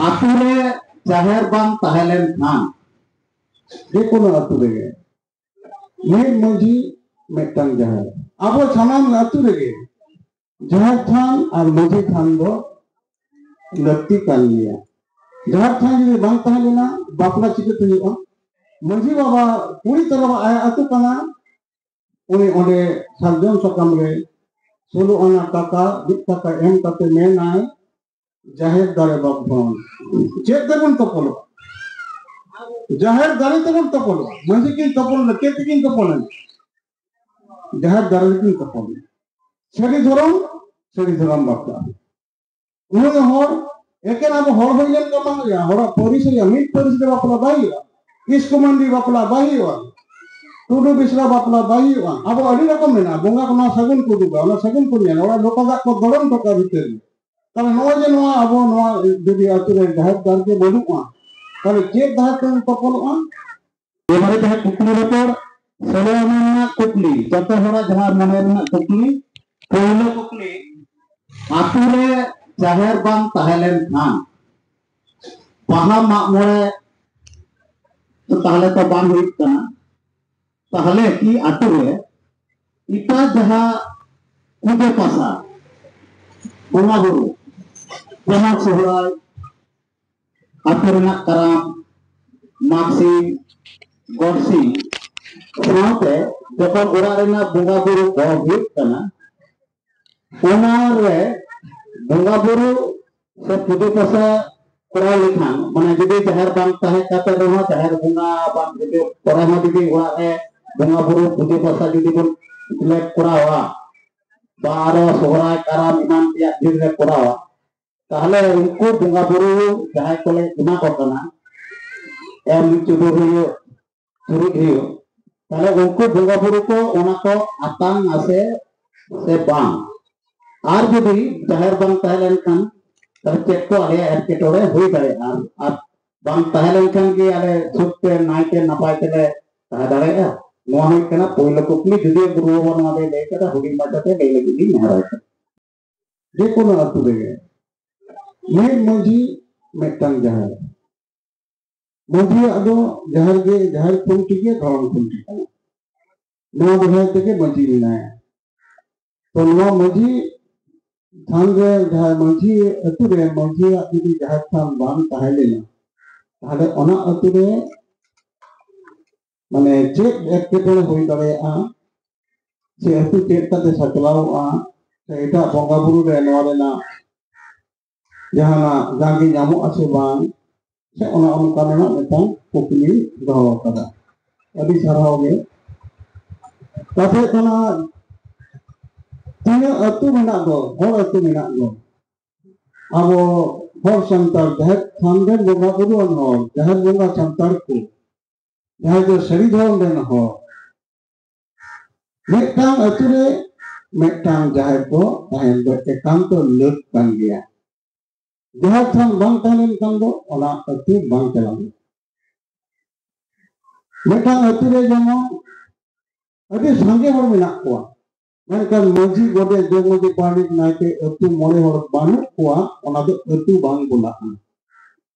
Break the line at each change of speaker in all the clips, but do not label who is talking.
ᱟᱛᱳ ᱨᱮ ᱡᱟᱦᱮᱨ ᱵᱟᱝ ᱛᱟᱦᱮᱸ ᱞᱮᱱ ᱠᱷᱟᱱ ᱡᱮ ᱠᱳᱱᱳ ᱟᱛᱳ ᱨᱮᱜᱮ ᱢᱤᱫ ᱢᱟᱺᱡᱷᱤ ᱢᱤᱫᱴᱟᱝ ᱡᱟᱦᱮᱨ ᱟᱵᱚ ᱥᱟᱱᱟᱢ ᱟᱛᱳ ᱨᱮᱜᱮ ᱡᱟᱦᱮᱨ ᱛᱷᱟᱱ ᱟᱨ ᱢᱟᱺᱡᱷᱤ ᱛᱷᱟᱱ ᱫᱚ ᱞᱟᱹᱠᱛᱤ ᱠᱟᱱ ᱜᱮᱭᱟ ᱡᱟᱦᱮᱨ ᱛᱷᱟᱱ ᱡᱩᱫᱤ ᱵᱟᱝ ᱛᱟᱦᱮᱸ ᱞᱮᱱᱟ ᱵᱟᱯᱞᱟ ᱪᱤᱠᱟᱹᱛᱮ ᱦᱩᱭᱩᱜᱼᱟ ᱢᱟᱺᱡᱷᱤ ᱵᱟᱵᱟ ᱠᱩᱲᱤ ᱛᱚᱨᱚᱵ ᱟᱭᱟᱜ ᱟᱛᱳ ᱠᱟᱱᱟ ᱩᱱᱤ ᱚᱸᱰᱮ ᱥᱟᱨᱡᱚᱢ ᱥᱟᱠᱟᱢ ᱨᱮ ᱥᱳᱞᱳ ᱟᱱᱟ ᱴᱟᱠᱟ ᱢᱤᱫ ᱴᱟᱠᱟ ᱮᱢ ᱠᱟᱛᱮ ᱢᱮᱱᱟᱭ ᱡᱟᱦᱮᱨ ᱫᱟᱨᱮ ᱵᱟᱵᱚᱱ ᱪᱮᱫ ᱛᱮᱵᱚᱱ ᱛᱚᱯᱚᱞᱚᱜᱼᱟ ᱡᱟᱦᱮᱨ ᱫᱟᱨᱮ ᱛᱮᱵᱚᱱ ᱛᱚᱯᱚᱞᱚᱜᱼᱟ ᱢᱟᱺᱡᱷᱤ ᱠᱤᱱ ᱛᱚᱯᱚᱞᱚᱜᱼᱟ ᱪᱮᱫ ᱛᱮᱠᱤᱱ ᱛᱚᱯᱚᱞᱮᱱᱟ ᱡᱟᱦᱮᱨ ᱫᱟᱨᱮ ᱛᱮᱠᱤᱱ ᱛᱚᱯᱚᱞᱮᱱᱟ ᱥᱟᱹᱨᱤ ᱫᱷᱚᱨᱚᱢ ᱥᱟᱹᱨᱤ ᱫᱷᱚᱨᱚᱢ ᱵᱟᱯᱞᱟ ᱩᱱᱤ ᱦᱚᱲ ᱮᱠᱮᱱ ᱟᱵᱚ ᱦᱚᱲ ᱦᱩᱭ ᱞᱮᱱ ᱠᱚ ᱵᱟᱝ ᱦᱩᱭᱩᱜᱼᱟ ᱦᱚᱲᱟᱜ ᱯᱟᱹᱨᱤᱥ ᱦᱩᱭᱩᱜᱼᱟ ᱢᱤᱫ ᱯᱟᱹᱨᱤᱥ ᱫᱚ ᱵᱟᱯᱞᱟ ᱵᱟᱭ ᱦᱩᱭᱩᱜᱼᱟ ᱠᱤᱥᱠᱩ ᱢᱟᱱᱰᱤ ᱵᱟᱯᱞᱟ ᱵᱟᱭ ᱦᱩᱭᱩᱜᱼᱟ ᱴᱩᱰᱩ ᱵᱤᱥᱨᱟ ᱵᱟᱯᱞᱟ ᱵᱟᱭ ᱦᱩᱭᱩᱜᱼᱟ ᱟᱵᱚ ᱟᱹᱰᱤ ᱨᱚᱠᱚᱢ ᱢᱮᱱᱟᱜᱼᱟ ᱵᱚᱸᱜᱟ ᱠᱚ ᱱᱚᱣᱟ ᱥᱟᱹᱜᱩᱱ ᱠᱚ ᱩᱫᱩᱜᱟ ᱚᱱᱟ ᱥᱟᱹᱜᱩᱱ ᱠᱚ ᱧᱮᱞᱟ ᱚᱲᱟᱜ ᱞᱚᱴᱟ ᱫᱟᱜ ᱠᱚ ᱫᱚᱲᱚᱢ ᱴᱚᱠᱟ ᱵᱷᱤᱛᱟᱹᱨ ᱨᱮ ᱛᱟᱦᱚᱞᱮ ᱱᱚᱜᱼᱚᱭ ᱡᱮ ᱱᱚᱣᱟ ᱟᱵᱚ ᱱᱚᱣᱟ ᱡᱩᱫᱤ ᱟᱹᱛᱩ ᱨᱮ ᱡᱟᱦᱮᱨ ᱫᱟᱨ ᱜᱮ ᱵᱟᱹᱱᱩᱜᱼᱟ ᱛᱟᱦᱚᱞᱮ ᱪᱮᱫ ᱫᱟᱦᱮᱨ ᱛᱮᱵᱚᱱ ᱛᱚᱯᱚᱞᱚᱜᱼᱟ ᱮᱵᱟᱨᱮ ᱡᱟᱦᱟᱸ ᱠᱩᱠᱞᱤ ᱨᱚᱯᱚᱲ ᱥᱳᱞᱳ ᱟᱱᱟ ᱨᱮᱱᱟᱜ ᱠᱩᱠᱞᱤ ᱡᱚᱛᱚ ᱦᱚᱲᱟᱜ ᱡᱟᱦᱟᱸ ᱢᱚᱱᱮ ᱨᱮᱱᱟᱜ ᱠᱩᱠᱞᱤ ᱯᱳᱭᱞᱳ ᱠᱩᱠᱞᱤ ᱟᱛᱳ ᱨᱮ ᱡᱟᱦᱮᱨ ᱵᱟᱝ ᱛᱟᱦᱮᱸ ᱞᱮᱱ ᱠᱷᱟᱱ ᱵᱟᱦᱟ ᱢᱟᱜ ᱢᱚᱬᱮ ᱛᱟᱦᱞᱮ ᱛᱚ ᱵᱟᱝ ᱦᱩᱭᱩᱜ ᱠᱟᱱᱟ ᱛᱟᱦᱞᱮ ᱠᱤ ᱟᱛᱳ ᱨᱮ ᱮᱴᱟᱜ ᱡᱟᱦᱟᱸ ᱯᱩᱡᱟᱹ ᱯᱟᱥᱟ ᱵᱚᱸᱜᱟ ᱵᱩᱨᱩ ᱡᱟᱦᱟᱸ ᱥᱚᱦᱨᱟᱭ ᱟᱛᱳ ᱨᱮᱱᱟᱜ ᱠᱟᱨᱟᱢ ᱢᱟᱜᱽᱥᱤᱢ ᱜᱚᱰᱥᱤᱢ ᱥᱟᱶᱛᱮ ᱡᱚᱠᱷᱚᱱ ᱚᱲᱟᱜ ᱨᱮᱱᱟᱜ ᱵᱚᱸᱜᱟ ᱵᱩᱨᱩ ᱠᱚ ᱦᱩᱭᱩᱜ ᱠᱟᱱᱟ ᱚᱱᱟ ᱨᱮ ᱵᱚᱸᱜᱟ ᱵᱩᱨᱩ ᱥᱮ ᱯᱩᱡᱟᱹ ᱯᱟᱥᱟ ᱠᱚᱨᱟᱣ ᱞᱮᱠᱷᱟᱱ ᱢᱟᱱᱮ ᱡᱩᱫᱤ ᱡᱟᱦᱮᱨ ᱵᱟᱝ ᱛᱟᱦᱮᱸ ᱠᱟᱛᱮ ᱨᱮᱦᱚᱸ ᱡᱟᱦᱮᱨ ᱵᱚᱸᱜᱟ ᱵᱟᱝ ᱡᱩᱫᱤ ᱠᱚᱨᱮ ᱦᱚᱸ ᱡᱩᱫᱤ ᱚᱲᱟᱜ ᱨᱮ ᱵᱚᱸᱜᱟ ᱵᱩᱨᱩ ᱯᱩᱡᱟᱹ ᱯᱟᱥᱟ ᱡᱩᱫᱤ ᱵᱚᱱ ᱞᱮ ᱠᱚᱨᱟᱣᱟ ᱵᱟ ᱟᱨᱚ ᱥᱚᱦᱨᱟᱭ ᱠᱟᱨᱟᱢ ᱮᱢᱟᱱ ᱛᱮᱭᱟᱜ ᱫᱤᱱ ᱞᱮ ᱠᱚᱨᱟᱣᱟ ᱛᱟᱦᱚᱞᱮ ᱩᱱᱠᱩ ᱵᱚᱸᱜᱟ ᱵᱩᱨᱩ ᱡᱟᱦᱟᱸᱭ ᱠᱚᱞᱮ ᱮᱢᱟ ᱠᱚ ᱠᱟᱱᱟ ᱮᱢ ᱪᱩᱰᱩ ᱦᱩᱭᱩᱜ ᱪᱩᱨᱩᱡ ᱦᱩᱭᱩᱜ ᱛᱟᱦᱚᱞᱮ ᱩᱱᱠᱩ ᱵᱚᱸᱜᱟ ᱵᱩᱨᱩ ᱠᱚ ᱚᱱᱟ ᱠᱚ ᱟᱛᱟᱝ ᱟᱥᱮ ᱥᱮ ᱵᱟᱝ ᱟᱨ ᱡᱩᱫᱤ ᱡᱟᱦᱮᱨ ᱵᱟᱝ ᱛᱟᱦᱮᱸ ᱞᱮᱱᱠᱷᱟᱱ ᱛᱟᱦᱚᱞᱮ ᱪᱮᱫ ᱠᱚ ᱟᱞᱮᱭᱟᱜ ᱮᱴᱠᱮᱴᱚᱬᱮ ᱦᱩᱭ ᱫᱟᱲᱮᱭᱟᱜᱼᱟ ᱟᱨ ᱵᱟᱝ ᱛᱟᱦᱮᱸ ᱞᱮᱱᱠᱷᱟᱱ ᱜᱮ ᱟᱞᱮ ᱥᱩᱠ ᱛᱮ ᱱᱟᱭ ᱛᱮ ᱱᱟᱯᱟᱭ ᱛᱮᱞᱮ ᱛᱟᱦᱮᱸ ᱫᱟᱲᱮᱭᱟᱜᱼᱟ ᱱᱚᱣᱟ ᱦᱩᱭᱩᱜ ᱠᱟᱱᱟ ᱯᱳᱭᱞᱳ ᱠᱩᱠᱞᱤ ᱡᱩᱫᱤ ᱜᱩᱨᱩ ᱵᱟᱵᱟ ᱱᱚᱣᱟ ᱫᱚᱭ ᱞᱟᱹᱭ ᱠᱟᱫᱟ ᱦᱩᱰᱤᱧ ᱢᱟᱪᱷᱟᱛᱮ ᱞᱟᱹᱭ ᱞᱟᱹᱜᱤᱫ ᱞᱤᱧ ᱱᱮᱦᱚᱨ ᱠᱟᱱᱟ ᱡᱮ ᱠᱳᱱᱳ ᱟᱛᱳ ᱨᱮᱜᱮ ᱢᱤᱫ ᱢᱟᱺᱡᱷᱤ ᱢᱤᱫᱴᱟᱝ ᱡᱟᱦᱮᱨ ᱢᱟᱺᱡᱷᱤᱭᱟᱜ ᱫᱚ ᱡᱟᱦᱮᱨ ᱜᱮ ᱡᱟᱦᱮᱨ ᱠᱷᱩᱱᱴᱤ ᱜᱮ ᱫᱷᱚᱨᱚᱢ ᱠᱷᱩᱱᱴᱤ ᱠᱟᱱᱟ ᱱᱚᱣᱟ ᱫᱚᱦᱚᱭ ᱛᱮᱜᱮ ᱢᱟᱺᱡᱷᱤ ᱢᱮᱱᱟᱭᱟ ᱛᱚ ᱱᱚᱣᱟ ᱢᱟᱺᱡᱷᱤ ᱛᱷᱟᱱ ᱨᱮ ᱡᱟᱦᱟᱸ ᱢᱟᱺᱡᱷᱤ ᱟᱛᱳ ᱨᱮ ᱢᱟᱺᱡᱷᱤᱭᱟᱜ ᱡᱩᱫᱤ ᱡᱟᱦᱮᱨ ᱛᱷᱟᱱ ᱵᱟᱝ ᱛᱟᱦᱮᱸ ᱞᱮᱱᱟ ᱛᱟᱦᱞᱮ ᱚᱱᱟ ᱟᱛᱳ ᱨᱮ ᱢᱟᱱᱮ ᱪᱮᱫ ᱮᱴᱠᱮᱴᱚᱬᱮ ᱦᱩᱭ ᱫᱟᱲᱮᱭᱟᱜᱼᱟ ᱥᱮ ᱟᱹᱛᱩ ᱪᱮᱫ ᱠᱟᱛᱮ ᱥᱟᱪᱞᱟᱣᱚᱜᱼᱟ ᱥᱮ ᱮᱴᱟᱜ ᱵᱚᱸᱜᱟ ᱵᱩᱨᱩ ᱨᱮ ᱱᱚᱣᱟ ᱨᱮᱱᱟᱜ ᱡᱟᱦᱟᱱᱟᱜ ᱡᱟᱸᱜᱮ ᱧᱟᱢᱚᱜ ᱟᱥᱮ ᱵᱟᱝ ᱥᱮ ᱚᱱᱟ ᱚᱱᱠᱟ ᱨᱮᱱᱟᱜ ᱢᱤᱫᱴᱟᱝ ᱠᱩᱠᱞᱤ ᱫᱚᱦᱚ ᱟᱠᱟᱫᱟ ᱟᱹᱰᱤ ᱥᱟᱨᱦᱟᱣ ᱜᱮ ᱠᱟᱛᱷᱟ ᱠᱟᱱᱟ ᱛᱤᱱᱟᱹᱜ ᱟᱹᱛᱩ ᱢᱮᱱᱟᱜ ᱫᱚ ᱦᱚᱲ ᱟᱹᱛᱩ ᱢᱮᱱᱟᱜ ᱫᱚ ᱟᱵᱚ ᱦᱚᱲ ᱥᱟᱱᱛᱟᱲ ᱡᱟᱦᱮᱨ ᱛᱷᱟᱱ ᱨᱮᱱ ᱵᱚᱸᱜᱟ ᱵᱩᱨᱩᱣᱟᱱ ᱦᱚᱲ ᱡᱟᱦᱮᱨ ᱵᱚᱸᱜᱟ ᱥᱟᱱᱛᱟᱲ ᱠᱚ ᱡᱟᱦᱟᱸᱭ ᱫᱚ ᱥᱟᱹᱨᱤ ᱫᱷᱚᱨᱚᱢ ᱨᱮᱱ ᱦᱚᱲ ᱢᱤᱫᱴᱟᱝ ᱟᱹᱛᱩ ᱨᱮ ᱢᱤᱫᱴᱟᱝ ᱡᱟᱦᱮᱨ ᱫᱚ ᱛᱟᱦᱮᱱ ᱫᱚ ᱮᱠᱟᱱᱛᱚ ᱞᱟᱹᱠ ᱠᱟᱱ ᱜᱮᱭᱟ ᱡᱟᱦᱮᱨ ᱛᱷᱟᱱ ᱵᱟᱝ ᱛᱟᱦᱮᱸ ᱞᱮᱱᱠᱷᱟᱱ ᱫᱚ ᱚᱱᱟ ᱟᱹᱛᱩ ᱵᱟᱝ ᱪᱟᱞᱟᱜ ᱢᱤᱫᱴᱟᱝ ᱟᱹᱛᱩ ᱨᱮ ᱡᱮᱢᱚᱱ ᱟᱹᱰᱤ ᱥᱟᱸᱜᱮ ᱦᱚᱲ ᱢᱮᱱᱟᱜ ᱠᱚᱣᱟ ᱢᱮᱱᱠᱷᱟᱱ ᱢᱟᱹᱡᱷᱤ ᱜᱚᱰᱮ ᱡᱚᱜᱽ ᱢᱟᱹᱡᱷᱤ ᱯᱟᱨᱟᱱᱤᱠ ᱱᱟᱭᱠᱮ ᱟᱹᱛᱩ ᱢᱚᱬᱮ ᱦᱚᱲ ᱵᱟᱹᱱᱩᱜ ᱠᱚᱣᱟ ᱚᱱᱟ ᱫᱚ ᱟᱹᱛᱩ ᱵᱟᱝ ᱵᱚᱞᱟᱜᱼᱟ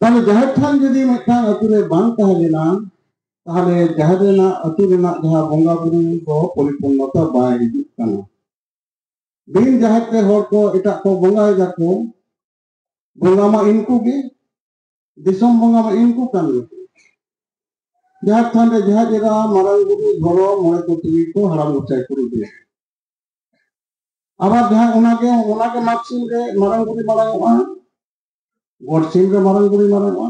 ᱛᱟᱦᱞᱮ ᱡᱟᱦᱮᱨ ᱛᱷᱟᱱ ᱡᱩᱫᱤ ᱢᱤᱫᱴᱟᱝ ᱟᱹᱛᱩ ᱨᱮ ᱵᱟᱝ ᱛᱟᱦᱮᱸ ᱞᱮᱱᱟ ᱛᱟᱦᱞᱮ ᱡᱟᱦᱮᱨ ᱨᱮᱱᱟᱜ ᱟᱹᱛᱩ ᱨᱮᱱᱟᱜ ᱡᱟᱦᱟᱸ ᱵᱚᱸᱜᱟ ᱵᱩᱨᱩ ᱫᱚ ᱯᱚᱨᱤᱯᱩᱨᱱᱚᱛᱟ ᱵᱟᱭ ᱦᱤᱡᱩᱜ ᱠᱟᱱᱟ ᱵᱤᱱ ᱡᱟᱦᱮᱨ ᱛᱮ ᱦᱚᱲ ᱠᱚ ᱮᱴᱟᱜ ᱠᱚ ᱵᱚᱸᱜᱟᱭ ᱫᱟᱠᱚ ᱵᱚᱸᱜᱟ ᱢᱟ ᱤᱱᱠᱩ ᱜᱮ ᱫᱤᱥᱚᱢ ᱵᱚᱸᱜᱟ ᱢᱟ ᱤᱱᱠᱩ ᱠᱟᱱ ᱜᱮ ᱡᱟᱦᱮᱨ ᱛᱷᱟᱱ ᱨᱮ ᱡᱟᱦᱮᱨ ᱮᱨᱟ ᱢᱟᱨᱟᱝ ᱵᱩᱨᱩ ᱫᱷᱚᱨᱚ ᱢᱚᱬᱮ ᱠᱚ ᱛᱩᱨᱩᱭ ᱠᱚ ᱦᱟᱲᱟᱢ ᱜᱚᱪᱟᱭ ᱠᱚ ᱨᱩᱫᱩᱭᱟ ᱟᱵᱟᱨ ᱡᱟᱦᱟᱸ ᱚᱱᱟᱜᱮ ᱚᱱᱟᱜᱮ ᱢᱟᱜᱽ ᱥᱤᱢ ᱨᱮ ᱢᱟᱨᱟᱝ ᱵᱩᱨᱩ ᱢᱟᱨᱟᱝᱚᱜᱼᱟ ᱜᱚᱰ ᱥᱤᱢ ᱨᱮ ᱢᱟᱨᱟᱝ ᱵᱩᱨᱩ ᱢᱟᱨᱟᱝᱚᱜᱼᱟ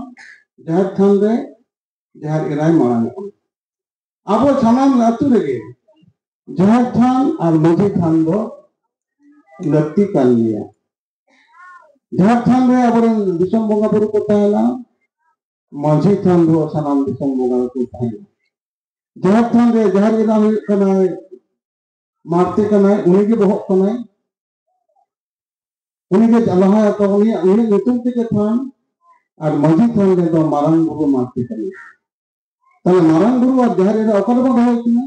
ᱡᱟᱦᱮᱨ ᱛᱷᱟᱱ ᱨᱮ ᱡᱟᱦᱮᱨ ᱮᱨᱟᱭ ᱢᱟᱨᱟᱝᱚᱜᱼᱟ ᱟᱵᱚ ᱥᱟᱱᱟᱢ ᱟᱹᱛᱩ ᱨᱮᱜᱮ ᱡᱟᱦᱮᱨ ᱛᱷᱟᱱ ᱟᱨ ᱢᱟᱹᱡᱷᱤ ᱛᱷᱟᱱ ᱫᱚ ᱞᱟᱹᱠᱛᱤ ᱠᱟᱱ ᱜᱮᱭᱟ ᱡᱟᱦᱮᱨ ᱛᱷᱟᱱ ᱨᱮ ᱟᱵᱚᱨᱮᱱ ᱫᱤᱥᱚᱢ ᱵᱚᱸᱜᱟ ᱵᱩᱨᱩ ᱠᱚ ᱛᱟᱦᱮᱱᱟ ᱢᱟᱹᱡᱷᱤ ᱛᱷᱟᱱ ᱫᱚ ᱥᱟᱱᱟᱢ ᱫᱤᱥᱚᱢ ᱵᱚᱸᱜᱟ ᱠᱚ ᱛᱟᱦᱮᱱᱟ ᱡᱟᱦᱮᱨ ᱛᱷᱟᱱ ᱨᱮ ᱡᱟᱦᱮᱨ ᱮᱨᱟ ᱦᱩᱭᱩᱜ ᱠᱟᱱᱟᱭ ᱢᱟᱨᱛᱮ ᱠᱟᱱᱟᱭ ᱩᱱᱤᱜᱮ ᱵᱚᱦᱚᱜ ᱠᱟᱱᱟᱭ ᱩᱱᱤᱜᱮ ᱞᱟᱦᱟᱭ ᱛᱚ ᱩᱱᱤ ᱩᱱᱤ ᱧᱩᱛᱩᱢ ᱛᱮᱜᱮ ᱛᱷᱟᱱ ᱟᱨ ᱢᱟᱹᱡᱷᱤ ᱛᱷᱟᱱ ᱨᱮᱫᱚ ᱢᱟᱨᱟᱝ ᱵᱩᱨᱩ ᱢᱟᱨᱛᱮ ᱠᱟᱱᱟᱭ ᱛᱟᱦᱞᱮ ᱢᱟᱨᱟᱝ ᱵᱩᱨᱩ ᱟᱨ ᱡᱟᱦᱮᱨ ᱨᱮ ᱚᱠᱟ ᱨᱮᱵᱚᱱ ᱫᱚᱦᱚᱭ ᱠᱤᱱᱟ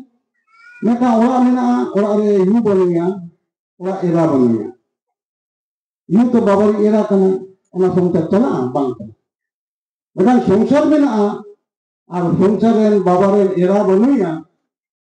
ᱢᱤᱫᱴᱟᱝ ᱚᱲᱟᱜ ᱢᱮᱱᱟᱜᱼᱟ ᱚᱲᱟᱜ ᱨᱮ ᱭᱩ ᱵᱟᱹᱱᱩᱭᱟ ᱚᱲᱟᱜ ᱮᱨᱟ ᱵᱟᱹᱱᱩᱭᱟ ᱭᱩ ᱛᱚ ᱵᱟᱵᱟᱨᱤ ᱮᱨᱟ ᱠᱟᱱᱟᱭ ᱚᱱᱟ ᱥᱚᱝᱥᱟᱨ ᱪᱟᱞᱟᱜᱼᱟ ᱵᱟᱝ ᱪᱟᱞᱟᱜᱼᱟ ᱢᱤᱫᱴᱟᱝ ᱥᱚᱝᱥᱟᱨ ᱢᱮᱱᱟᱜᱼᱟ ᱟᱨ ᱥᱚᱝᱥᱟᱨ ᱨᱮᱱ ᱵᱟᱵᱟ ᱨᱮᱱ ᱮᱨᱟ ᱵᱟᱹᱱᱩᱭᱟ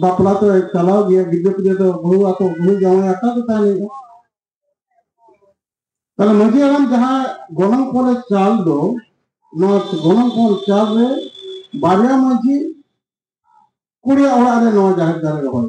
ᱵᱟᱯᱞᱟ ᱛᱚ ᱪᱟᱞᱟᱣ ᱜᱮᱭᱟ ᱜᱤᱫᱽᱨᱟᱹ ᱯᱤᱫᱽᱨᱟᱹ ᱫᱚ ᱵᱟᱹᱦᱩ ᱟᱠᱚ ᱵᱟᱹᱦᱩ ᱡᱟᱶᱟᱭ ᱟᱠᱟ ᱫᱚ ᱛᱟᱦᱮᱱ ᱦᱩᱭᱩᱜᱼᱟ ᱛᱟᱦᱞᱮ ᱢᱟᱹᱡᱷᱤ ᱦᱟᱲᱟᱢ ᱡᱟᱦᱟᱸ ᱜᱚᱱᱚᱝ ᱯᱚᱞᱮ ᱪᱟᱞ ᱫᱚ ᱱᱚᱣᱟ ᱜᱚᱱᱚᱝ ᱯᱚᱞ ᱪᱟᱞ ᱨᱮ ᱵᱟᱨᱭᱟ ᱢᱟᱹᱡᱷᱤ ᱠᱩᱲᱤᱭᱟᱜ ᱚᱲᱟᱜ ᱨᱮ ᱱᱚᱣᱟ ᱡᱟᱦᱮᱨ ᱫᱟᱨᱮ ᱨᱚᱦᱚᱭ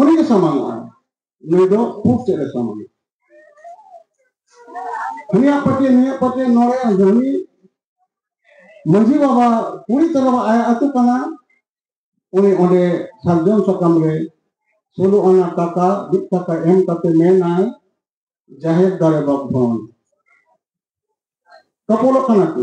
ᱩᱱᱤ ᱜᱮ ᱥᱟᱢᱟᱝᱚᱜᱼᱟ ᱱᱩᱭ ᱫᱚ ᱯᱩᱵ ᱥᱮᱫ ᱨᱮ ᱥᱟᱢᱟᱝᱚᱜᱼᱟ ᱦᱟᱹᱱᱤᱭᱟᱜ ᱯᱟᱹᱴᱤ ᱱᱩᱭᱟᱜ ᱯᱟᱹᱴᱤ ᱱᱚᱰᱮ ᱦᱟᱹᱱᱤ ᱢᱟᱹᱡᱷᱤ ᱵᱟᱵᱟ ᱠᱩᱲᱤ ᱛᱚᱨᱚᱵ ᱟᱭᱟᱜ ᱟᱹᱛᱩ ᱠᱟᱱᱟ ᱩᱱᱤ ᱚᱸᱰᱮ ᱥᱟᱨᱡᱚᱢ ᱥᱟᱠᱟᱢ ᱨᱮ ᱥᱳᱞᱳ ᱟᱱᱟ ᱴᱟᱠᱟ ᱢᱤᱫ ᱴᱟᱠᱟ ᱮᱢ ᱠᱟᱛᱮ ᱢᱮᱱᱟᱭ ᱡᱟᱦᱮᱨ ᱫᱟᱨᱮ ᱵᱟᱯᱷᱚᱱ ᱛᱚᱯᱚᱞᱚᱜ ᱠᱟᱱᱟ ᱠᱚ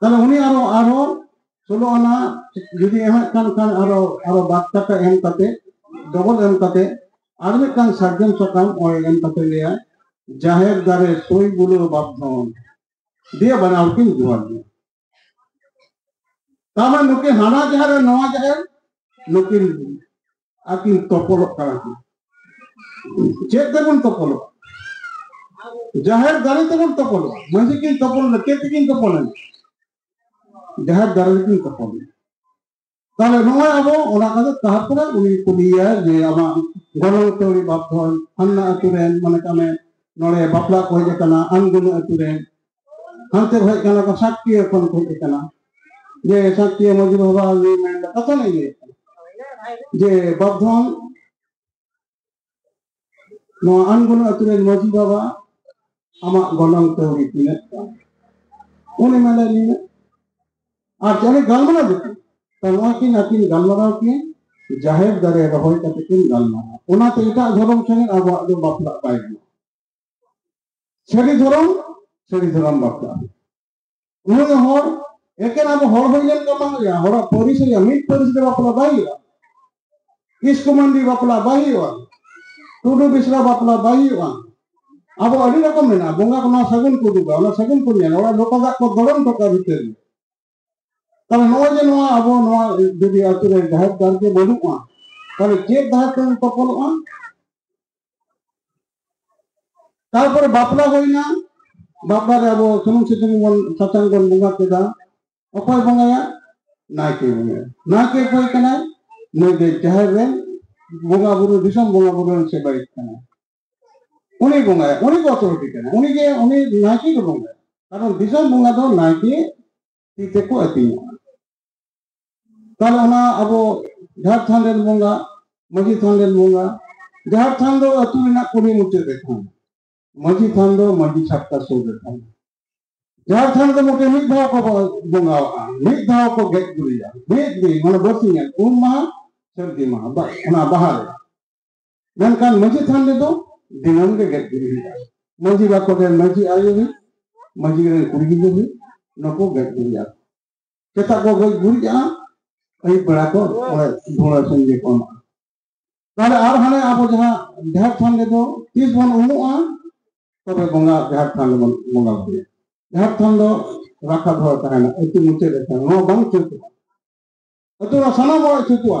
ᱛᱟᱦᱚᱞᱮ ᱩᱱᱤ ᱟᱨᱚ ᱟᱨᱚ ᱥᱳᱞᱳ ᱟᱱᱟ ᱡᱩᱫᱤ ᱮᱢᱮᱫ ᱠᱟᱱ ᱠᱷᱟᱱ ᱟᱨᱚ ᱟᱨᱚ ᱵᱟᱫ ᱠᱟᱛᱮ ᱮᱢ ᱠᱟᱛᱮ ᱰᱚᱵᱚᱞ ᱮᱢ ᱠᱟᱛᱮ ᱟᱨ ᱢᱤᱫᱴᱟᱝ ᱥᱟᱨᱡᱚᱢ ᱥᱟᱠᱟᱢ ᱚᱭ ᱮᱢ ᱠᱟᱛᱮ ᱞᱟᱹᱭᱟ ᱡᱟᱦᱮᱨ ᱫᱟᱨᱮ ᱥᱳᱭ ᱵᱩᱞᱳ ᱵᱟᱯᱫᱷᱚᱱ ᱫᱤᱭᱮ ᱵᱟᱱᱟᱣ ᱠᱤᱱ ᱡᱚᱦᱟᱨ ᱜᱮ ᱛᱟᱨᱢᱟᱱᱮ ᱱᱩᱠᱤᱱ ᱦᱟᱱᱟ ᱡᱟᱦᱮᱨ ᱱᱚᱣᱟ ᱡᱟᱦᱮᱨ ᱱᱩᱠᱤᱱ ᱟᱹᱠᱤᱱ ᱛᱚᱯᱚᱞᱚᱜ ᱠᱟᱱᱟ ᱠᱤᱱ ᱪᱮᱫ ᱛᱮᱵᱚᱱ ᱛᱚᱯᱚᱞᱚᱜᱼᱟ ᱡᱟᱦᱮᱨ ᱫᱟᱨᱮ ᱛᱮᱵᱚᱱ ᱛᱚᱯᱚᱞᱚᱜᱼᱟ ᱢᱟᱺᱡᱷᱤ ᱠᱤᱱ ᱛᱚᱯᱚᱞᱮᱱᱟ ᱪᱮᱫ ᱛᱮᱠᱤᱱ ᱛᱚᱯᱚᱞᱮᱱᱟ ᱡᱟᱦᱮᱨ ᱫᱟᱨᱮ ᱛᱮᱠᱤᱱ ᱛᱚᱯᱚᱞᱮᱱᱟ ᱛᱟᱦᱚᱞᱮ ᱱᱚᱜᱼᱚᱭ ᱟᱵᱚ ᱚᱱᱟ ᱠᱟᱛᱮ ᱛᱟᱨᱯᱚᱨᱮ ᱩᱱᱤ ᱠᱩᱞᱤᱭᱟ ᱡᱮ ᱟᱢᱟᱜ ᱜᱚᱱᱚᱝ ᱛᱟᱹᱣᱲᱤ ᱵᱟᱯᱫᱷᱚᱱ ᱦᱟᱱᱱᱟ ᱟᱹᱛᱩ ᱨᱮᱱ ᱢᱚᱱᱮ ᱠᱟᱜ ᱢᱮ ᱱᱚᱰᱮ ᱵᱟᱯᱞᱟ ᱠᱚ ᱦᱮᱡ ᱟᱠᱟᱱᱟ ᱟᱱᱜᱩᱱᱟ ᱟᱹᱛᱩ ᱨᱮᱱ ᱦᱟᱱᱛᱮ ᱠᱷᱚᱡ ᱠᱟᱱᱟ ᱠᱚ ᱥᱟᱠᱛᱤᱭᱟᱹ ᱠᱷᱚᱱ ᱠᱚ ᱦᱮᱡ ᱠᱟᱱᱟ ᱡᱮ ᱥᱟᱠᱛᱤᱭᱟᱹ ᱢᱟᱹᱡᱷᱤ ᱵᱟᱵᱟ ᱩᱱᱤ ᱢᱮᱱ ᱫᱟ ᱠᱟᱛᱷᱟ ᱞᱤᱧ ᱞᱟᱹᱭ ᱡᱮ ᱵᱟᱯᱫᱷᱚᱱ ᱱᱚᱣᱟ ᱟᱱᱜᱩᱱ ᱟᱹᱛᱩ ᱨᱮᱱ ᱢᱟᱹᱡᱷᱤ ᱵᱟᱵᱟ ᱟᱢᱟᱜ ᱜᱚᱱᱚᱝ ᱠᱟᱹᱣᱰᱤ ᱛᱤᱱᱟᱹᱜ ᱠᱟᱱᱟ ᱩᱱᱤ ᱢᱮᱱ ᱫᱟᱭ ᱱᱤᱱᱟᱹᱜ ᱟᱨ ᱡᱟᱦᱟᱸᱭ ᱜᱟᱞᱢᱟᱨᱟᱣ ᱫᱚ ᱛᱟᱦᱚᱞᱮ ᱱᱚᱣᱟ ᱠᱤᱱ ᱟᱹᱠᱤᱱ ᱜᱟᱞᱢᱟᱨᱟᱣ ᱠᱤᱱ ᱡᱟᱦᱮᱨ ᱫᱟᱨᱮ ᱨᱚᱦᱚᱭ ᱠᱟᱛᱮ ᱠᱤᱱ ᱜᱟᱞᱢᱟᱨᱟᱣ ᱚᱱᱟᱛᱮ ᱮᱴᱟᱜ ᱫᱷᱚᱨᱚᱢ ᱴᱷᱮᱱ ᱟᱵᱚᱣᱟᱜ ᱫᱚ ᱵᱟᱯᱞᱟᱜ ᱵᱟᱭ ᱜᱟᱱᱚᱜᱼᱟ ᱥᱟᱹᱨᱤ ᱫᱷᱚᱨᱚᱢ ᱥᱟᱹᱨᱤ ᱫᱷᱚᱨᱚᱢ ᱵᱟᱯᱞᱟ ᱩᱱᱤ ᱫᱚ ᱦᱚᱲ ᱮᱠᱮᱱ ᱟᱵᱚ ᱦᱚᱲ ᱦᱩᱭ ᱞᱮᱱ ᱫᱚ ᱵᱟᱝ ᱦᱩᱭᱩᱜᱼᱟ ᱦᱚᱲᱟᱜ ᱯᱟᱹᱨᱤᱥ ᱦᱩᱭᱩᱜᱼᱟ ᱢᱤᱫ ᱯᱟᱹᱨᱤᱥ ᱫᱚ ᱵᱟᱯᱞᱟ ᱵᱟᱭ ᱦᱩᱭᱩᱜᱼᱟ ᱠᱤᱥᱠᱩ ᱢᱟᱱᱰᱤ ᱵᱟᱯᱞᱟ ᱵᱟᱭ ᱦᱩᱭᱩᱜᱼᱟ ᱴᱩᱰᱩ ᱵᱤᱥᱨᱟ ᱵᱟᱯᱞᱟ ᱵᱟᱭ ᱦᱩᱭᱩᱜᱼᱟ ᱟᱵᱚ ᱟᱹᱰᱤ ᱨᱚᱠᱚᱢ ᱢᱮᱱᱟᱜᱼᱟ ᱵᱚᱸᱜᱟ ᱠᱚ ᱱᱚᱣᱟ ᱥᱟᱹᱜᱩᱱ ᱠᱚ ᱩᱫᱩᱜᱟ ᱚᱱᱟ ᱥᱟᱹᱜᱩᱱ ᱠᱚ ᱧᱮᱞᱟ ᱚᱲᱟᱜ ᱞᱚᱠᱚ ᱫᱟᱜ ᱠᱚ ᱫᱚᱲᱚᱢ ᱴᱚᱠᱟ ᱵᱷᱤᱛᱟᱹᱨ ᱛᱟᱦᱚᱞᱮ ᱱᱚᱜᱼᱚᱭ ᱡᱮ ᱱᱚᱣᱟ ᱟᱵᱚ ᱱᱚᱣᱟ ᱡᱩᱫᱤ ᱟᱛᱳ ᱨᱮ ᱰᱟᱦᱟᱨ ᱰᱟᱦᱟᱨ ᱜᱮ ᱵᱟᱹᱱᱩᱜᱼᱟ ᱛᱟᱦᱚᱞᱮ ᱪᱮᱫ ᱰᱟᱦᱟᱨ ᱛᱮᱢ ᱛᱚᱯᱚᱞᱚᱜᱼᱟ ᱛᱟᱨᱯᱚᱨᱮ ᱵᱟᱯᱞᱟ ᱦᱩᱭᱱᱟ ᱵᱟᱯᱞᱟ ᱨᱮ ᱟᱵᱚ ᱥᱩᱱᱩᱢ ᱥᱤᱛᱩᱝ ᱵᱚᱱ ᱥᱟᱥᱟᱝ ᱵᱚᱱ ᱵᱚᱸᱜᱟ ᱠᱮᱫᱟ ᱚᱠᱚᱭ ᱵᱚᱸᱜᱟᱭᱟ ᱱᱟᱭᱠᱮ ᱵᱚᱸᱜᱟᱭᱟ ᱱᱟᱭᱠᱮ ᱚᱠᱚᱭ ᱠᱟᱱᱟᱭ ᱱᱩᱭ ᱫᱚ ᱡᱟᱦᱮᱨ ᱨᱮ ᱵᱚᱸᱜᱟ ᱵᱩᱨᱩ ᱫᱤᱥᱚᱢ ᱵᱚᱸᱜᱟ ᱵᱩᱨᱩ ᱨᱮᱱ ᱥᱮᱵᱟᱭᱤᱛ ᱠᱟᱱᱟᱭ ᱩᱱᱤ ᱵᱚᱸᱜᱟᱭᱟ ᱩᱱᱤ ᱜᱮ ᱚᱛᱚᱨᱤᱴᱤ ᱠᱟᱱᱟ ᱩᱱᱤ ᱜᱮ ᱩᱱᱤ ᱱᱟᱭᱠᱮ ᱜᱮ ᱵᱚᱸᱜᱟᱭᱟ ᱠᱟᱨᱚᱱ ᱫᱤᱥᱚᱢ ᱵᱚᱸᱜᱟ ᱫᱚ ᱱᱟᱭᱠᱮ ᱛᱤ ᱛᱮᱠᱚ ᱟᱹᱛᱤᱧᱟ ᱛᱟᱦᱞᱮ ᱚᱱᱟ ᱟᱵᱚ ᱡᱟᱦᱮᱨ ᱛᱷᱟᱱ ᱨᱮᱱ ᱵᱚᱸᱜᱟ ᱢᱟᱹᱡᱷᱤ ᱛᱷᱟᱱ ᱨᱮᱱ ᱵᱚᱸᱜᱟ ᱡᱟᱦᱮᱨ ᱛᱷᱟᱱ ᱫᱚ ᱟᱹᱛᱩ ᱨᱮᱱᱟᱜ ᱠᱩᱞᱦᱤ ᱢᱩᱪᱟᱹᱫ ᱨᱮ ᱛᱟᱦᱮᱱᱟ ᱢᱟᱹᱡᱷᱤ ᱛᱷᱟᱱ ᱫᱚ ᱢᱟᱹᱡᱷᱤ ᱪᱷᱟᱴᱠᱟ ᱥᱩᱨ ᱨᱮ ᱛᱟᱦᱮᱱᱟ ᱡᱟᱦᱮᱨ ᱛᱷᱟᱱ ᱫᱚ ᱢᱚᱴᱮ ᱢᱤᱫ ᱫᱷᱟᱣ ᱠᱚ ᱵᱚᱸᱜᱟᱣᱟᱜᱼᱟ ᱢᱤᱫ ᱫᱷᱟᱣ ᱠᱚ ᱜᱮᱡ ᱜᱩᱨᱤᱡᱟ ᱢᱤᱫ ᱫᱤᱱ ᱢᱟᱱᱮ ᱵᱟᱹᱥᱤᱧᱟ ᱩᱢ ᱢᱟᱦᱟ ᱥᱟᱹᱨᱫᱤ ᱢᱟᱦᱟ ᱚᱱᱟ ᱵᱟᱦᱟ ᱨᱮ ᱢᱮᱱᱠᱷᱟᱱ ᱢᱟᱹᱡᱷᱤ ᱛᱷᱟᱱ ᱨᱮᱫᱚ ᱫᱤᱱᱟᱹᱢ ᱜᱮ ᱜᱮᱫ ᱜᱩᱨᱤᱡ ᱦᱩᱭᱩᱜᱼᱟ ᱢᱟᱹᱡᱷᱤ ᱵᱟᱠᱚ ᱨᱮᱱ ᱢᱟᱹᱡᱷᱤ ᱟᱭᱳ ᱦᱩᱭᱩᱜ ᱢᱟᱹᱡᱷᱤ ᱨᱮᱱ ᱠᱩᱲᱤ ᱜᱤᱫᱽᱨᱟᱹ ᱦᱩᱭᱩᱜ ᱱᱩᱠᱩ ᱜᱮᱫ ᱜᱩᱨᱤᱡᱟ ᱥᱮᱛᱟᱜ ᱠᱚ ᱜᱮᱫ ᱜᱩᱨᱤᱡᱟ ᱟᱹᱭᱩᱵ ᱵᱮᱲᱟ ᱠᱚ ᱫᱷᱩᱲᱟᱹ ᱥᱚᱸᱜᱮ ᱠᱚ ᱮᱢᱟᱜᱼᱟ ᱛᱟᱦᱚᱞᱮ ᱟᱨ ᱦᱟᱱᱮ ᱟᱵᱚ ᱡᱟᱦᱟᱸ ᱡᱟᱦᱮᱨ ᱛᱷᱟᱱ ᱨᱮᱫᱚ ᱛᱤᱥ ᱵᱚᱱ ᱩᱢᱩᱜᱼᱟ ᱛᱚᱵᱮ ᱵᱚᱸᱜᱟ ᱡᱟᱦᱮᱨ ᱛᱷᱟᱱ ᱨᱮᱵᱚᱱ ᱵᱚᱸᱜᱟ ᱵᱩᱨᱩᱭᱟ ᱡᱟᱦᱮᱨ ᱛᱷᱟᱱ ᱫᱚ ᱨᱟᱠᱷᱟ ᱫᱚᱦᱚ ᱛᱟᱦᱮᱱᱟ ᱟᱹᱛᱩ ᱢᱩᱪᱟᱹᱫ ᱨᱮ ᱛᱟᱦᱮᱱᱟ ᱱᱚᱣᱟ ᱵᱟᱝ ᱪᱷᱩᱴᱩᱜᱼᱟ ᱟᱹᱛᱩ ᱨᱮ ᱥᱟᱱᱟᱢ ᱦᱚᱲᱟᱜ ᱪᱷᱩᱴᱩᱜᱼᱟ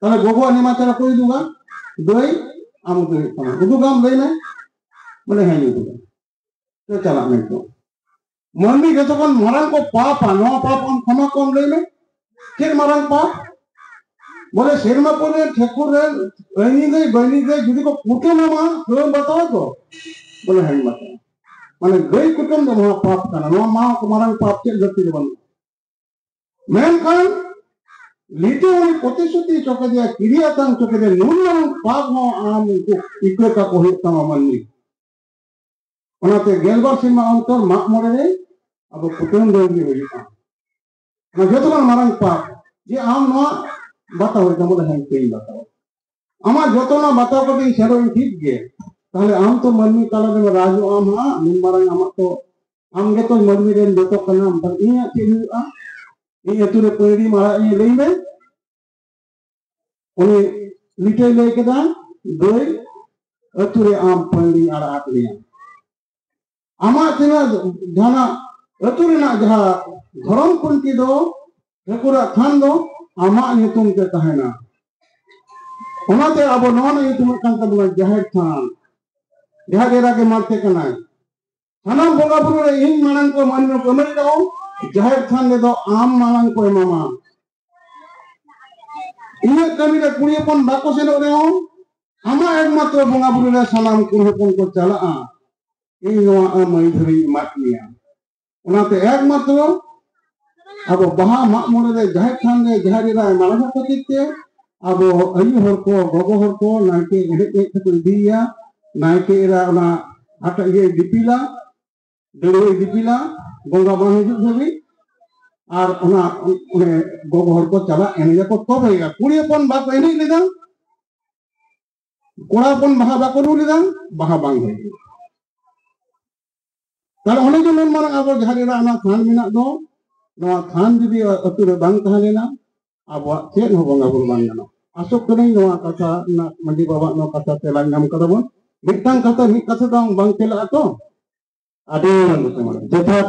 ᱛᱟᱦᱚᱞᱮ ᱜᱚᱜᱚ ᱟᱨ ᱱᱮᱢᱟᱪᱟᱨ ᱚᱠᱚᱭ ᱩᱫᱩᱜᱟ ᱫᱟᱹᱭ ᱟᱢ ᱩᱫᱩᱜ ᱦᱩᱭᱩᱜ ᱛᱟᱢᱟ ᱩᱫᱩᱜᱟᱢ ᱞᱟᱹᱭ ᱢᱮ ᱵᱚᱞᱮ ᱦᱮᱸ ᱩᱫᱩᱜᱟ ᱛᱚ ᱪᱟᱞᱟᱜ ᱢᱮ ᱛᱚ ᱢᱟᱹᱱᱢᱤ ᱡᱚᱛᱚ ᱠᱷᱚᱱ ᱢᱟᱨᱟᱝ ᱠᱚ ᱯᱟᱯᱟ ᱱᱚᱣᱟ ᱯᱟᱯ ᱟᱢ ᱠᱷᱚᱢᱟ ᱠᱚᱢ ᱞᱟᱹᱭ ᱢᱮ ᱪᱮᱫ ᱢᱟᱨᱟᱝ ᱯᱟᱯ ᱵᱚᱞᱮ ᱥᱮᱨᱢᱟ ᱯᱚᱨᱮ ᱴᱷᱮᱠᱩᱨ ᱨᱮ ᱟᱹᱭᱱᱤ ᱫᱟᱹᱭ ᱵᱟᱹᱭᱱᱤ ᱫᱟᱹᱭ ᱡᱩᱫᱤ ᱠᱚ ᱠᱩᱴᱟᱹᱢᱟᱢᱟ ᱛᱟᱹᱣ ᱵᱟᱛᱟᱣᱟ ᱛᱚ ᱵᱚᱞᱮ ᱦᱮᱸ ᱵᱟᱛᱟᱣᱟ ᱢᱟᱱᱮ ᱜᱟᱹᱭ ᱠᱩᱴᱟᱹᱢ ᱫᱚ ᱱᱚᱣᱟ ᱯᱟᱯ ᱠᱟᱱᱟ ᱱᱚᱣᱟ ᱢᱟ ᱢᱟᱨᱟᱝ ᱯᱟᱯ ᱪᱮᱫ ᱫᱷᱟᱹᱨᱛᱤ ᱨᱮ ᱵᱟᱹᱱᱩᱜᱼᱟ ᱢᱮᱱᱠᱷᱟᱱ ᱞᱤᱴᱟᱹ ᱦᱚᱸ ᱯᱨᱚᱛᱤᱥᱨᱩᱛᱤ ᱦᱚᱪᱚ ᱠᱮᱫᱮᱭᱟ ᱠᱤᱨᱤᱭᱟᱛᱟᱝ ᱦᱚᱪᱚ ᱠᱮᱫᱮᱭᱟ ᱱᱩᱱᱟᱹᱝ ᱯᱟᱯ ᱦᱚᱸ ᱟᱢ ᱩᱱᱠᱩ ᱤᱠᱟᱹ ᱠᱟᱠᱚ ᱦᱩᱭᱩᱜ ᱛᱟᱢᱟ ᱢᱟᱹᱱᱢᱤ ᱚᱱᱟᱛᱮ ᱜᱮᱞᱵᱟᱨ ᱥᱮᱨᱢᱟ ᱚᱱᱛᱚᱨ ᱢᱟᱜ ᱢᱚᱬᱮ ᱨᱮ ᱟᱵᱚ ᱠᱩᱴᱟᱹᱢ ᱫᱟᱹᱲ ᱜᱮ ᱦᱩᱭᱩᱜᱼᱟ ᱚᱱᱟ ᱡᱚᱛᱚ ᱠᱷᱚᱱ ᱢᱟᱨᱟᱝ ᱯᱟᱯ ᱡᱮ ᱟᱢ ᱱᱚᱣᱟ ᱵᱟᱛᱟᱣ ᱦᱩᱭᱩᱜ ᱛᱟᱢᱟ ᱵᱚᱞᱮ ᱦᱮᱸ ᱤᱠᱟᱹᱧ ᱵᱟᱛᱟᱣᱟ ᱟᱢᱟᱜ ᱡᱚᱛᱚᱱᱟᱜ ᱵᱟᱛᱟᱣ ᱠᱟᱛᱮ ᱤᱧ ᱥᱮᱱᱚᱜ ᱤᱧ ᱴᱷᱤᱠ ᱜᱮ ᱛᱟᱦᱞᱮ ᱟᱢ ᱛᱚ ᱢᱟᱹᱱᱢᱤ ᱛᱟᱞᱟᱨᱮ ᱨᱟᱡᱚᱜ ᱟᱢ ᱦᱟᱸᱜ ᱱᱩᱱ ᱢᱟᱨᱟᱝ ᱟᱢᱟᱜ ᱛᱚ ᱟᱢ ᱜᱮᱛᱚ ᱢᱟᱹᱱᱢᱤ ᱨᱮᱱ ᱡᱚᱛᱚ ᱠᱟᱱᱟᱢ ᱛᱟᱦᱞᱮ ᱤᱧᱟᱹᱜ ᱪᱮᱫ ᱦᱩᱭᱩᱜᱼᱟ ᱤᱧ ᱟᱹᱛᱩ ᱨᱮ ᱯᱟᱹᱭᱲᱤ ᱢᱟᱨᱟᱜ ᱤᱧ ᱞᱟᱹᱭ ᱢᱮ ᱩᱱᱤ ᱞᱤᱴᱟᱹᱭ ᱞᱟᱹᱭ ᱠᱮᱫᱟ ᱜᱟᱹᱭ ᱟᱹᱛᱩ ᱨᱮ ᱟᱢ ᱯᱟᱹᱭᱲᱤ ᱟᱲᱟᱜ ᱟᱫ ᱢᱮᱭᱟ ᱟᱢᱟᱜ ᱛᱤᱱᱟᱹᱜ ᱡᱟᱦᱟᱱᱟᱜ ᱟᱹᱛᱩ ᱨᱮᱱᱟᱜ ᱡᱟᱦᱟᱸ ᱫᱷᱚᱨᱚᱢ ᱠᱷᱩᱱᱴᱤ ᱫᱚ ᱴᱷᱟᱹᱠᱩᱨᱟᱜ ᱛᱷᱟᱱ ᱫᱚ ᱟᱢᱟᱜ ᱧᱩᱛᱩᱢ ᱛᱮ ᱛᱟᱦᱮᱱᱟ ᱚᱱᱟᱛᱮ ᱟᱵᱚ ᱱᱚᱣᱟ ᱨᱮᱱᱟᱜ ᱧᱩᱛᱩᱢ ᱦᱩᱭᱩᱜ ᱠᱟᱱ ᱛᱟᱵᱚᱱᱟ ᱡᱟᱦᱮᱨ ᱛᱷᱟᱱ ᱡᱟᱦᱟᱸ ᱰᱮᱨᱟ ᱜᱮ ᱢᱟᱲᱛᱮ ᱠᱟᱱᱟᱭ ᱥᱟᱱᱟᱢ ᱵᱚᱸᱜᱟ ᱵᱩᱨᱩ ᱨᱮ ᱤᱧ ᱢᱟᱲᱟᱝ ᱠᱚ ᱢᱟᱹᱱᱢᱤ ᱠᱚ ᱮᱢᱟᱹᱧ ᱨᱮᱦᱚᱸ ᱡᱟᱦᱮᱨ ᱛᱷᱟᱱ ᱨᱮᱫᱚ ᱟᱢ ᱢᱟᱲᱟᱝ ᱠᱚ ᱮᱢᱟᱢᱟ ᱤᱧᱟᱹᱜ ᱠᱟᱹᱢᱤ ᱨᱮ ᱠᱩᱲᱤ ᱦᱚᱯᱚᱱ ᱵᱟᱠᱚ ᱥᱮᱱᱚᱜ ᱨᱮᱦᱚᱸ ᱟᱢᱟᱜ ᱮᱠᱢᱟᱛᱨᱚ ᱵᱚᱸᱜᱟ ᱵᱩᱨᱩ ᱨᱮ ᱥᱟᱱᱟᱢ ᱠᱩᱲᱤ ᱦᱚᱯᱚᱱ ᱠᱚ ᱪᱟᱞᱟᱜᱼᱟ ᱤᱧ ᱱᱚᱣᱟ ᱟᱢ ᱟᱹᱭ ᱫᱷᱟᱹᱨᱤᱧ ᱮᱢᱟᱫ ᱢᱮᱭᱟ ᱚᱱᱟᱛᱮ ᱮᱠᱢᱟᱛᱨᱚ ᱟᱵᱚ ᱵᱟᱦᱟ ᱢᱟᱜ ᱢᱚᱬᱮ ᱨᱮ ᱡᱟᱦᱮᱨ ᱛᱷᱟᱱ ᱨᱮ ᱡᱟᱦᱮᱨ ᱮᱨᱟ ᱢᱟᱲᱟᱝ ᱠᱷᱟᱹᱛᱤᱨ ᱛᱮ ᱟᱵᱚ ᱟᱭᱩ ᱦᱚᱲ ᱠᱚ ᱜᱚᱜᱚ ᱦᱚᱲ ᱠᱚ ᱱᱟᱭᱠᱮ ᱮᱱᱮᱡ ᱮᱱᱮᱡ ᱛᱮᱠᱚ ᱤᱫᱤᱭᱮᱭᱟ ᱱᱟᱭᱠᱮ ᱮᱨᱟ ᱚᱱᱟ ᱦᱟᱴᱟᱜ ᱤᱭᱟᱹᱭ ᱫᱤᱯᱤᱞᱟ ᱫᱟᱹᱲᱣᱟᱹᱭ ᱫᱤᱯᱤᱞᱟ ᱵᱚᱸᱜᱟ ᱵᱟᱝ ᱦᱤᱡᱩᱜ ᱫᱷᱟᱹᱵᱤᱡ ᱟᱨ ᱚᱱᱟ ᱚᱱᱮ ᱜᱚᱜᱚ ᱦᱚᱲ ᱠᱚ ᱪᱟᱞᱟᱜ ᱮᱱᱮᱡᱟᱠᱚ ᱛᱚᱵᱮᱭᱟ ᱠᱩᱲᱤ ᱦᱚᱯᱚᱱ ᱵᱟᱠᱚ ᱮᱱᱮᱡ ᱞᱮᱫᱟ ᱠᱚᱲᱟ ᱦᱚᱯᱚᱱ ᱵᱟᱦᱟ ᱵᱟᱠᱚ ᱨᱩ ᱞᱮᱫᱟ ᱵᱟᱦᱟ ᱵᱟᱝ ᱦᱩᱭ ᱞᱮᱱᱟ ᱛᱟᱦᱞᱮ ᱚᱱᱮ ᱡᱮ ᱱᱩᱱ ᱢᱟᱨᱟᱝ ᱟᱵᱚ ᱡᱟᱦᱟᱸ ᱨᱮᱱᱟᱜ ᱚᱱᱟ ᱛᱷᱟᱱ ᱢᱮᱱᱟᱜ ᱫᱚ ᱱᱚᱣᱟ ᱛᱷᱟᱱ ᱡᱩᱫᱤ ᱟᱹᱛᱩ ᱨᱮ ᱵᱟᱝ ᱛᱟᱦᱮᱸ ᱞᱮᱱᱟ ᱟᱵᱚᱣᱟᱜ ᱪᱮᱫ ᱦᱚᱸ ᱵᱚᱸᱜᱟ ᱵᱩᱨᱩ ᱵᱟᱝ ᱜᱟᱱᱚᱜᱼᱟ ᱟᱥᱚᱜ ᱠᱟᱹᱱᱟᱹᱧ ᱱᱚᱣᱟ ᱠᱟᱛᱷᱟ ᱨᱮᱱᱟᱜ ᱢᱟᱺᱡᱷᱤ ᱵᱟᱵᱟᱣᱟᱜ ᱱᱚᱣᱟ ᱠᱟᱛᱷᱟ ᱛᱮᱞᱟ ᱧᱟᱢ ᱠᱟᱫᱟ ᱵᱚᱱ ᱢᱤᱫᱴᱟᱝ ᱠᱟᱛᱷᱟ ᱢᱤᱫ ᱠᱟᱛᱷᱟ ᱫᱚ ᱵᱟᱝ ᱛᱮᱞᱟᱜᱼᱟ ᱛᱚ ᱟᱹᱰᱤ ᱡᱚᱛᱷᱟᱛ